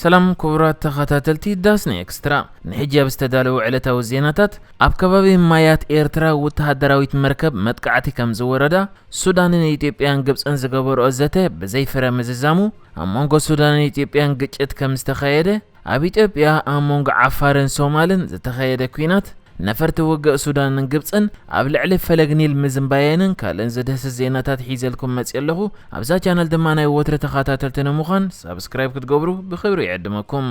ሰላም ኩቡራት ተኸታተልቲ ዳስና ኤክስትራ ንሕጂ ኣብ ዝተዳለዉ ዕለታዊ ዜናታት ኣብ ከባቢ ማያት ኤርትራ ውተሃደራዊት መርከብ መጥቃዕቲ ከም ዝወረዳ ሱዳንን ኢትዮጵያን ግብጽን ዝገበርኦ ዘተ ብዘይ ፍረ ምዝዛሙ ኣብ መንጎ ሱዳንን ኢትዮጵያን ግጭት ከም ዝተኸየደ ኣብ ኢትዮጵያ ኣብ መንጎ ዓፋርን ሶማልን ዝተኸየደ ኩናት ነፈርቲ ውግእ ሱዳንን ግብጽን ኣብ ልዕሊ ፈለግ ኒል ምዝንባየንን ካልእን ዝድህስስ ዜናታት ሒዘልኩም መጽየ ኣለኹ። ኣብዛ ቻነል ድማ ናይ ወትሪ ተኻታተልቲ ንምዃን ሳብስክራይብ ክትገብሩ ብኽብሪ ይዕድመኩም።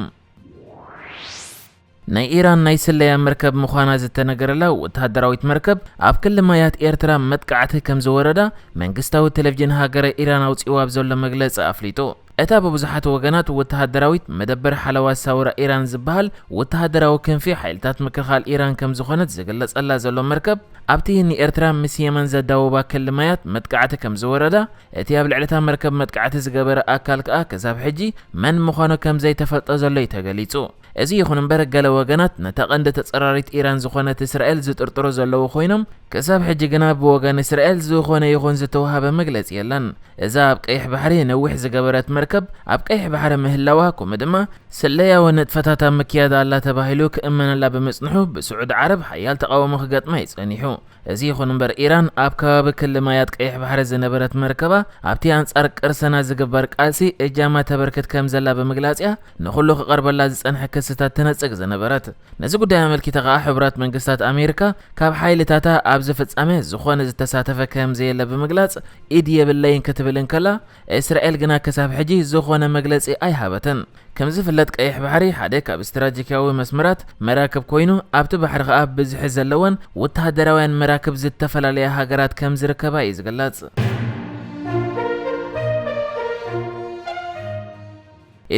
ናይ ኢራን ናይ ስለያ መርከብ ምዃና ዝተነገረላ ወተሃደራዊት መርከብ ኣብ ክሊ ማያት ኤርትራ መጥቃዕቲ ከምዝወረዳ መንግስታዊ ቴሌቭዥን ሃገረ ኢራን ኣውጺእዎ ኣብ ዘሎ መግለጺ ኣፍሊጡ። እታ ብብዙሓት ወገናት ወተሃደራዊት መደበር ሓለዋ ሳውራ ኢራን ዝበሃል ወተሃደራዊ ክንፊ ሓይልታት ምክልኻል ኢራን ከም ዝኾነት ዝግለጸላ ዘሎ መርከብ፣ ኣብቲ ንኤርትራ ምስ የመን ዘዳውባ ክሊ ማያት መጥቃዕቲ ከም ዝወረዳ፣ እቲ ኣብ ልዕሊ'ታ መርከብ መጥቃዕቲ ዝገበረ ኣካል ከኣ ክሳብ ሕጂ መን ምዃኑ ከም ዘይተፈልጠ ዘሎ'ዩ ተገሊጹ። እዚ ይኹን እምበር ገለ ወገናት ነታ ቀንዲ ተጸራሪት ኢራን ዝኾነት እስራኤል ዝጥርጥሩ ዘለዉ ኮይኖም፣ ክሳብ ሕጂ ግና ብወገን እስራኤል ዝኾነ ይኹን ዝተውሃበ መግለጺ የለን። እዛ ኣብ ቀይሕ ባሕሪ ነዊሕ ዝገበረት መርከብ ኣብ ቀይሕ ባሕሪ ምህላዋ ከምኡ ድማ ስለያዊ ንጥፈታት ኣብ ምክያድ ኣላ ተባሂሉ ክእመነላ ብምጽንሑ ብስዑዲ ዓረብ ሓያል ተቓውሞ ክገጥማ እዩ ጸኒሑ። እዚ ይኹን እምበር ኢራን ኣብ ከባቢ ክሊ ማያት ቀይሕ ባሕሪ ዝነበረት መርከባ ኣብቲ ኣንጻር ቅርሰና ዝግበር ቃልሲ እጃማ ተበርክት ከም ዘላ ብምግላጽ'ያ ንኹሉ ክቐርበላ ዝጸንሐ ክስታት ትነጽግ ዝነበረት። ነዚ ጉዳይ ኣመልኪታ ከኣ ሕቡራት መንግስታት ኣሜሪካ ካብ ሓይልታታ ኣብዚ ፍጻመ ዝኾነ ዝተሳተፈ ከም ዘየለ ብምግላጽ ኢድ የብለይን ክትብል እንከላ እስራኤል ግና ክሳብ ሕጂ ዝኾነ መግለጺ ኣይሃበትን። ከምዝፍለጥ ቀይሕ ባሕሪ ሓደ ካብ ስትራጂክያዊ መስመራት መራክብ ኮይኑ ኣብቲ ባሕሪ ከኣ ብዝሒ ዘለወን ወተሃደራውያን መራክብ ዝተፈላለያ ሃገራት ከምዝርከባ እዩ ዝግለጽ።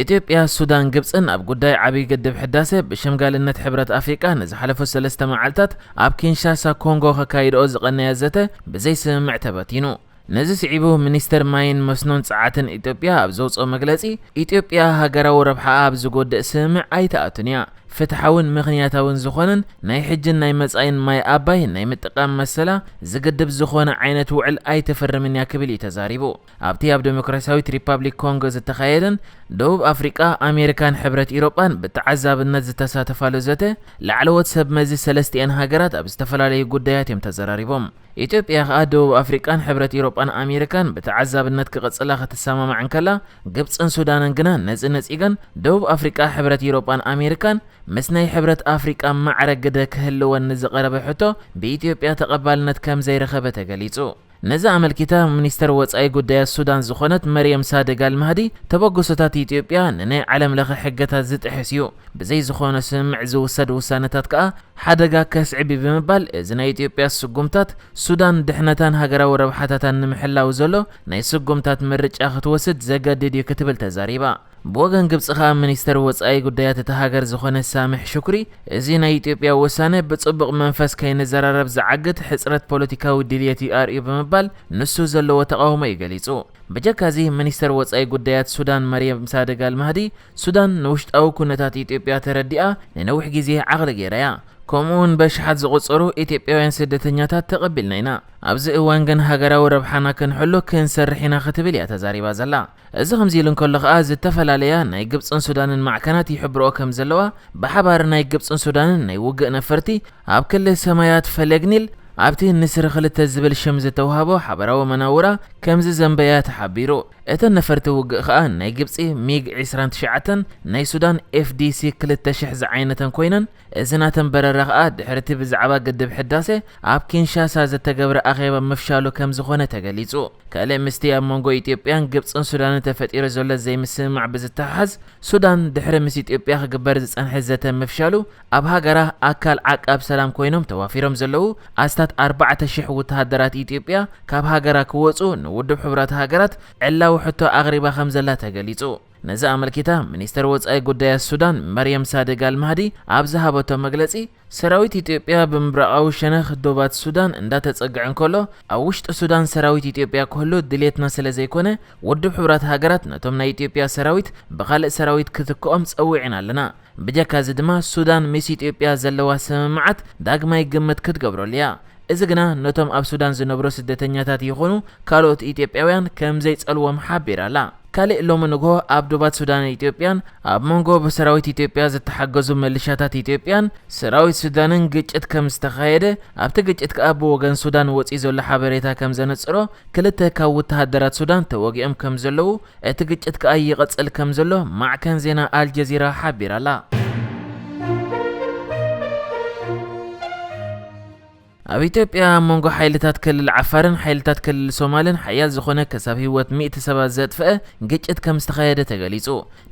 ኢትዮጵያ፣ ሱዳን፣ ግብጽን ኣብ ጉዳይ ዓብይ ግድብ ሕዳሰ ብሸምጋልነት ሕብረት ኣፍሪቃ ንዝሓለፉ ሰለስተ መዓልታት ኣብ ኪንሻሳ ኮንጎ ከካይድኦ ዝቐነያ ዘተ ብዘይስምምዕ ተበቲኑ። ነዚ ስዒቡ ሚኒስተር ማይን መስኖን ጸዓትን ኢትዮጵያ ኣብ ዘውጽኦ መግለጺ፣ ኢትዮጵያ ሃገራዊ ረብሓኣ ኣብ ዝጎድእ ስምምዕ ኣይትኣቱን እያ፣ ፍትሓውን ምኽንያታውን ዝኾነን ናይ ሕጂን ናይ መጻኢን ማይ ኣባይ ናይ ምጥቃም መሰላ ዝግድብ ዝኾነ ዓይነት ውዕል ኣይትፍርምን እያ ክብል እዩ ተዛሪቡ። ኣብቲ ኣብ ደሞክራሲያዊት ሪፓብሊክ ኮንጎ ዝተኻየደን ደቡብ ኣፍሪቃ፣ ኣሜሪካን ሕብረት ኢሮጳን ብተዓዛብነት ዝተሳተፋሉ ዘተ፣ ላዕለዎት ሰብ መዚ ሰለስቲኤን ሃገራት ኣብ ዝተፈላለዩ ጉዳያት እዮም ተዘራሪቦም። ኢትዮጵያ ከኣ ደቡብ ኣፍሪቃን ሕብረት ኢሮጳን ኣሜሪካን ብተዓዛብነት ክቕጽላ ክትሰማማዕ እንከላ፣ ግብጽን ሱዳንን ግና ነዚ ነጺገን ደቡብ ኣፍሪቃ ሕብረት ኢሮጳን ኣሜሪካን ምስ ናይ ሕብረት ኣፍሪቃ ማዕረ ግደ ክህልወን ንዝቐረበ ሕቶ ብኢትዮጵያ ተቐባልነት ከምዘይረኸበ ተገሊጹ። ነዚ ኣመልኪታ ሚኒስተር ወጻኢ ጉዳያት ሱዳን ዝኾነት መርየም ሳድግ ኣልማህዲ ተበግሶታት ኢትዮጵያ ንናይ ዓለምለኸ ሕገታት ዝጥሕስ እዩ፣ ብዘይ ዝኾነ ስምምዕ ዝውሰድ ውሳነታት ከኣ ሓደጋ ከስዕብ እዩ ብምባል እዚ ናይ ኢትዮጵያ ስጉምታት ሱዳን ድሕነታን ሃገራዊ ረብሓታታን ንምሕላው ዘሎ ናይ ስጉምታት ምርጫ ክትወስድ ዘገድድ እዩ ክትብል ተዛሪባ። ብወገን ግብጺ ከኣ ሚኒስተር ወጻኢ ጉዳያት እታ ሃገር ዝኾነ ሳምሕ ሹክሪ እዚ ናይ ኢትዮጵያ ውሳነ ብጽቡቕ መንፈስ ከይንዘራረብ ዝዓግት ሕጽረት ፖለቲካዊ ድልየት እዩ ኣርእዩ ብምባል ንሱ ዘለዎ ተቓውሞ እዩ ገሊጹ። ብጀካዚ ሚኒስተር ወጻኢ ጉዳያት ሱዳን መርየም ሳድግ ኣልማህዲ ሱዳን ንውሽጣዊ ኩነታት ኢትዮጵያ ተረዲኣ ንነዊሕ ግዜ ዓቕሊ ገይራ እያ። ከምኡ'ውን በኣሽሓት ዝቑጸሩ ኢትዮጵያውያን ስደተኛታት ተቐቢልና ኢና። ኣብዚ እዋን ግን ሃገራዊ ረብሓና ክንሕሉ ክንሰርሕ ኢና ክትብል እያ ተዛሪባ ዘላ። እዚ ከምዚ ኢሉ እንከሎ ከኣ ዝተፈላለያ ናይ ግብጽን ሱዳንን ማዕከናት ይሕብርኦ ከምዘለዋ ብሓባር ናይ ግብጽን ሱዳንን ናይ ውግእ ነፈርቲ ኣብ ክሊ ሰማያት ፈለግ ኒል ኣብቲ ንስሪ ክልተ ዝብል ሽም ዝተውሃቦ ሓበራዊ መናውራ ከምዝዘምበ እያ ተሓቢሩ። እተን ነፈርቲ ውግእ ከኣ ናይ ግብጺ ሚግ ዕስራን ትሽዓተን ናይ ሱዳን ኤፍዲሲ ክልተ ሽሕ ዝዓይነተን ኮይነን፣ እዚ ናተን በረራ ከኣ ድሕሪ'ቲ ብዛዕባ ግድብ ሕዳሴ ኣብ ኪንሻሳ ዝተገብረ ኣኼባ ምፍሻሉ ከምዝኾነ ተገሊጹ። ካልእ ምስቲ ኣብ መንጎ ኢትዮጵያን ግብጽን ሱዳንን ተፈጢሩ ዘሎ ዘይምስምማዕ ብዝተሓሓዝ፣ ሱዳን ድሕሪ ምስ ኢትዮጵያ ክግበር ዝጸንሐ ዘተ ምፍሻሉ ኣብ ሃገራ ኣካል ዓቃብ ሰላም ኮይኖም ተዋፊሮም ዘለዉ ኣስታት ኣርባዕተ ሽሕ ውተሃደራት ኢትዮጵያ ካብ ሃገራ ክወጹ ንውድብ ሕቡራት ሃገራት ዕላዊ ሕቶ ኣቕሪባ ከምዘላ ተገሊጹ። ነዚ ኣመልኪታ ሚኒስተር ወጻኢ ጉዳያት ሱዳን መርየም ሳድግ ኣልማህዲ ኣብ ዝሃበቶ መግለጺ፣ ሰራዊት ኢትዮጵያ ብምብራቓዊ ሸነኽ ዶባት ሱዳን እንዳተጸግዐ እንከሎ ኣብ ውሽጢ ሱዳን ሰራዊት ኢትዮጵያ ክህሉ ድልየትና ስለዘይኮነ ውድብ ሕቡራት ሃገራት ነቶም ናይ ኢትዮጵያ ሰራዊት ብኻልእ ሰራዊት ክትክኦም ጸዊዕና ኣለና ብጀካ እዚ ድማ ሱዳን ምስ ኢትዮጵያ ዘለዋ ስምምዓት ዳግማይ ግምት ክትገብረሉ እያ። እዚ ግና ነቶም ኣብ ሱዳን ዝነብሩ ስደተኛታት ይኹኑ ካልኦት ኢትዮጵያውያን ከምዘይጸልዎም ሓቢራ ኣላ። ካሊእ ሎሚ ንግሆ ኣብ ዶባት ሱዳንን ኢትዮጵያን ኣብ መንጎ ብሰራዊት ኢትዮጵያ ዝተሓገዙ ምልሻታት ኢትዮጵያን ሰራዊት ሱዳንን ግጭት ከምዝተኻየደ ኣብቲ ግጭት ከኣ ብወገን ሱዳን ወጺኡ ዘሎ ሓበሬታ ከምዘነጽሮ ክልተ ካብ ውተሃደራት ሱዳን ተወጊኦም ከምዘለዉ እቲ ግጭት ከኣ ይቕጽል ከም ዘሎ ማዕከን ዜና ኣልጀዚራ ሓቢራ'ላ። ኣብ ኢትዮጵያ ኣብ መንጎ ሓይልታት ክልል ዓፋርን ሓይልታት ክልል ሶማልን ሓያል ዝኾነ ክሳብ ህይወት ሚእቲ ሰባት ዘጥፍአ ግጭት ከም ዝተኻየደ ተገሊጹ።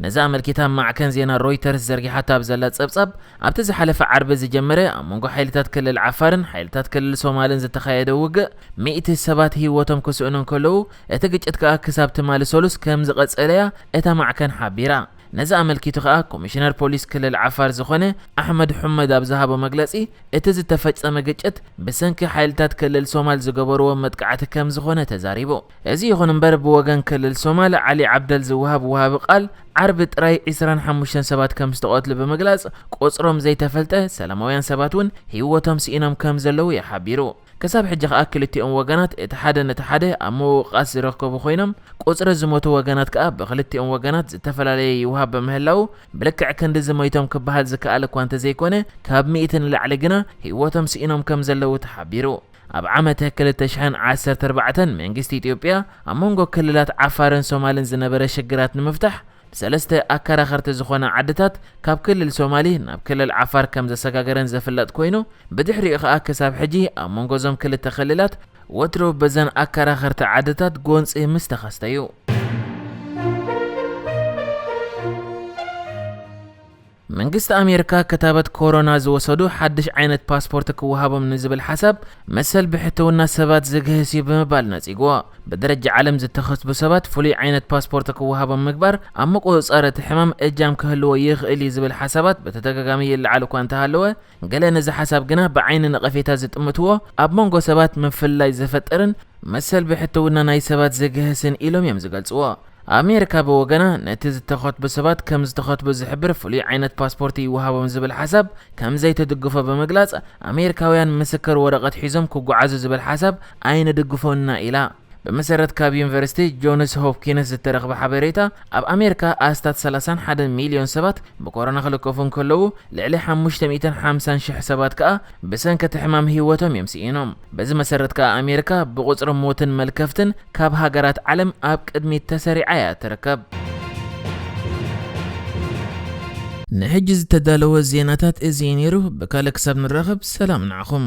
ነዚ ኣመልኪታ ማዕከን ዜና ሮይተርስ ዘርጊሓቶ ኣብ ዘላ ጸብጻብ፣ ኣብቲ ዝሓለፈ ዓርቢ ዝጀመረ ኣብ መንጎ ሓይልታት ክልል ዓፋርን ሓይልታት ክልል ሶማልን ዝተኻየደ ውግእ ሚእቲ ሰባት ህይወቶም ክስእኑ እንከለዉ፣ እቲ ግጭት ከኣ ክሳብ ትማሊ ሰሉስ ከምዝቐጸለ'ያ እታ ማዕከን ሓቢራ። ነዚ ኣመልኪቱ ከኣ ኮሚሽነር ፖሊስ ክልል ዓፋር ዝኾነ ኣሕመድ ሑመድ ኣብ ዝሃቦ መግለጺ እቲ ዝተፈጸመ ግጭት ብሰንኪ ሓይልታት ክልል ሶማል ዝገበርዎ መጥቃዕቲ ከምዝኾነ ተዛሪቡ። እዚ ይኹን እምበር ብወገን ክልል ሶማል ዓሊ ዓብደል ዝወሃብ ወሃቢ ቃል ዓርቢ ጥራይ ዕስራን ሓሙሽተን ሰባት ከምዝተቐትሉ ብምግላጽ ቁጽሮም ዘይተፈልጠ ሰላማውያን ሰባት'ውን ህይወቶም ስኢኖም ከምዘለዉ'ዩ ሓቢሩ። ክሳብ ሕጂ ከኣ ክልቲኦም ወገናት እቲ ሓደ ነቲ ሓደ ኣብ ምውቃስ ዝረከቡ ኮይኖም ቁጽሪ ዝሞቱ ወገናት ከኣ ብክልቲኦም ወገናት ዝተፈላለየ ይውሃብ በምህላዉ ብልክዕ ክንድዚ ሞይቶም ክበሃል ዝከኣል እኳ እንተዘይኮነ ካብ ሚእቲ ንላዕሊ ግና ሂወቶም ስኢኖም ከምዘለዉ ተሓቢሩ። ኣብ ዓመተ ክልተ ሽሕን ዓሰርተ ኣርባዕተን መንግስቲ ኢትዮጵያ ኣብ መንጎ ክልላት ዓፋርን ሶማልን ዝነበረ ሽግራት ንምፍታሕ፣ ብሰለስተ ኣከራኸርቲ ዝኾና ዓድታት ካብ ክልል ሶማሊ ናብ ክልል ዓፋር ከም ዘሰጋገረን ዘፍለጥ ኮይኑ ብድሕሪኡ ከኣ ክሳብ ሕጂ ኣብ መንጎ እዞም ክልተ ክልላት ወትሩ በዘን ኣከራኸርቲ ዓድታት ጎንጺ ምስ ተኸስተ እዩ። መንግስቲ ኣሜርካ ክታበት ኮሮና ዝወሰዱ ሓድሽ ዓይነት ፓስፖርት ክወሃቦም ንዝብል ሓሳብ መሰል ብሕትውና ሰባት ዝግህስ እዩ ብምባል ነጺግዎ። ብደረጃ ዓለም ዝተኸስቡ ሰባት ፍሉይ ዓይነት ፓስፖርት ክወሃቦም ምግባር ኣብ ምቁጽጻር እቲ ሕማም እጃም ክህልዎ ይኽእል እዩ ዝብል ሓሳባት ብተደጋጋሚ ይለዓል እኳ እንተሃለወ ገለ ነዚ ሓሳብ ግና ብዓይኒ ነቐፌታ ዝጥምትዎ ኣብ መንጎ ሰባት ምፍልላይ ዝፈጥርን መሰል ብሕትውና ናይ ሰባት ዝግህስን ኢሎም እዮም ዝገልጽዎ። ኣሜሪካ ብወገና ነቲ ዝተኸትቡ ሰባት ከም ዝተኸትቡ ዝሕብር ፍሉይ ዓይነት ፓስፖርት ይወሃቦም ዝብል ሓሳብ ከም ዘይትድግፎ ብምግላጽ ኣሜሪካውያን ምስክር ወረቐት ሒዞም ክጓዓዙ ዝብል ሓሳብ ኣይንድግፎን ኢና ኢላ። ብመሰረት ካብ ዩኒቨርሲቲ ጆንስ ሆፕኪንስ ዝተረኽበ ሓበሬታ፣ ኣብ ኣሜሪካ ኣስታት ሰላሳን ሓደን ሚልዮን ሰባት ብኮሮና ክልከፉ እንከለዉ፣ ልዕሊ ሓሙሽተ ሚእትን ሓምሳን ሽሕ ሰባት ከኣ ብሰንኪ እቲ ሕማም ህይወቶም እዮም ስኢኖም። በዚ መሰረት ከኣ ኣሜሪካ ብቑጽሪ ሞትን መልከፍትን ካብ ሃገራት ዓለም ኣብ ቅድሚት ተሰሪዓ እያ እትርከብ። ንሕጂ ዝተዳለወ ዜናታት እዚ እዩ ነይሩ። ብካልእ ክሳብ ንራኸብ ሰላም ንዓኹም።